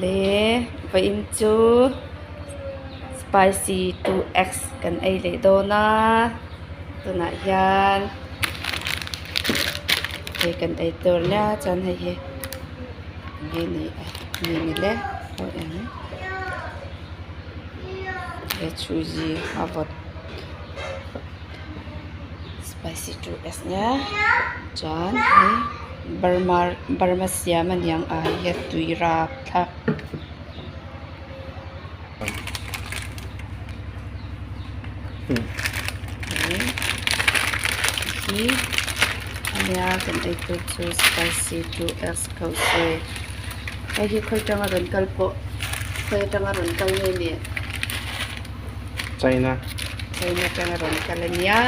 Le vaim cu spicy two eggs kan ei leh dawn ah tunah hian hei kan ei tur lia cun hei hi mini a mini le hawi em le chuzi a vawt. Spicy tu es ngiak, cun hei Burma siam a niang ai hi tui rapthlak. Hi nia kan ei tu cu spicy tu es ko sui. Hei hi khoi tang a ron kal poh, khoi tang a ron kal nge meh. China kan ram ka le nia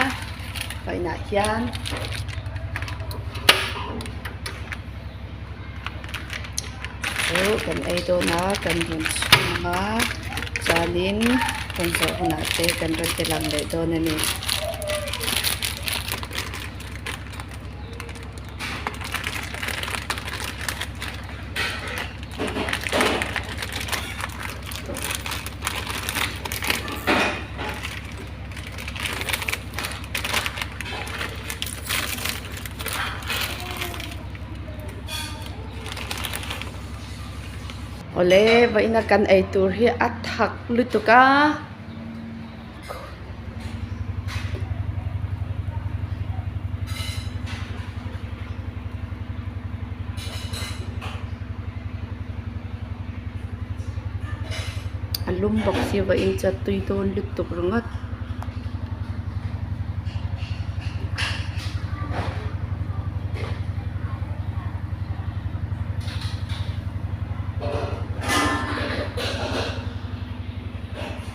hoihna hin. Kan ei dawn ah kan run chung a, caan in kan zoh hmanh ah te kan run ti lang leh dawn a ni. Awle, vaihnak kan ei tur hi a thak lutuk a. A lum bak si va in cu a tui tawn lut tuk ringawt.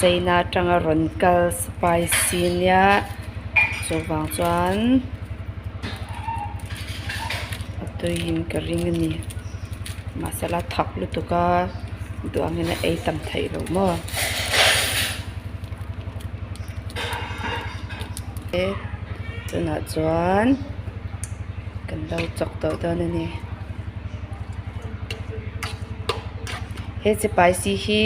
Ceina ṭang a rawn kal spicy niah chuvang cun a tui in ka ring a ni. Mahsela a thak lutuk a duh angin a ei tam thei lo maw? Cun ah cun. kan lo cawk dawh tawn a ni. He sipaisi hi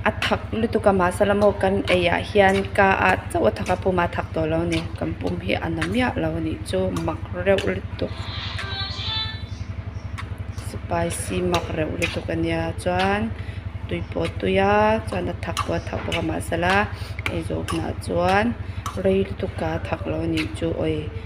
a thak na tuka mah sala maw kan ei ahhin ka ah cheu a thak a pum aa thak to lo ni. Kan pum hi a na miah lo a nih cu mak reuh lutuk. Sipaisi mak reuh lutuk a nia. Cun tui paw tui ah cun a thak tua thak tuka mah sala ei zawk hna cun rei lutuk aa thak lo a nih cu oi.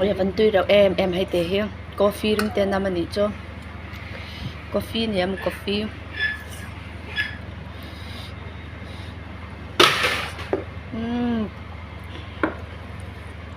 Oi a kan tui rau em em hai te hi. Coffee ring te nam ani cu. Coffee ni am coffee. Mm.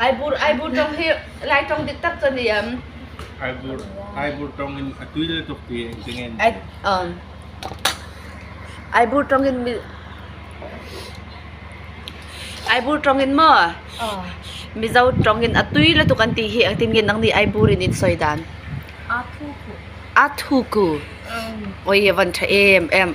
Aibur hi Laitawng diktak cun i um. Aibur Aibur tawng in a tui le tuk ti in tingen. Ai um. Aibur tawng in mi Aibur tawng in mo Mizo tawng in a tui le tuk an ti hi atin ngin nang ni Aibur in in soi dan. Athuku. Athuku. Oi van tha em em.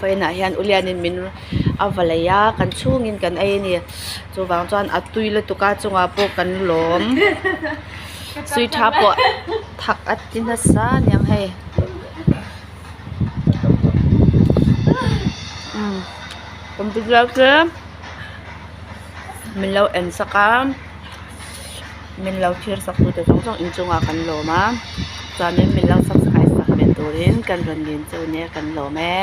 Fain ahhin ulian in min a va lei ah kan chung in kan ei ni. Cuvang cun a tui le tuka cungah pawh kan lawm. Sui ṭha pawh thak a ti nasa niang hei. Computer cu min lo en sak a. Minlo thir saktu te zong zong inn chungah kan lawm a. Cun in minlo subscribe sak men turin kan run ngen cu ne kan lawm e.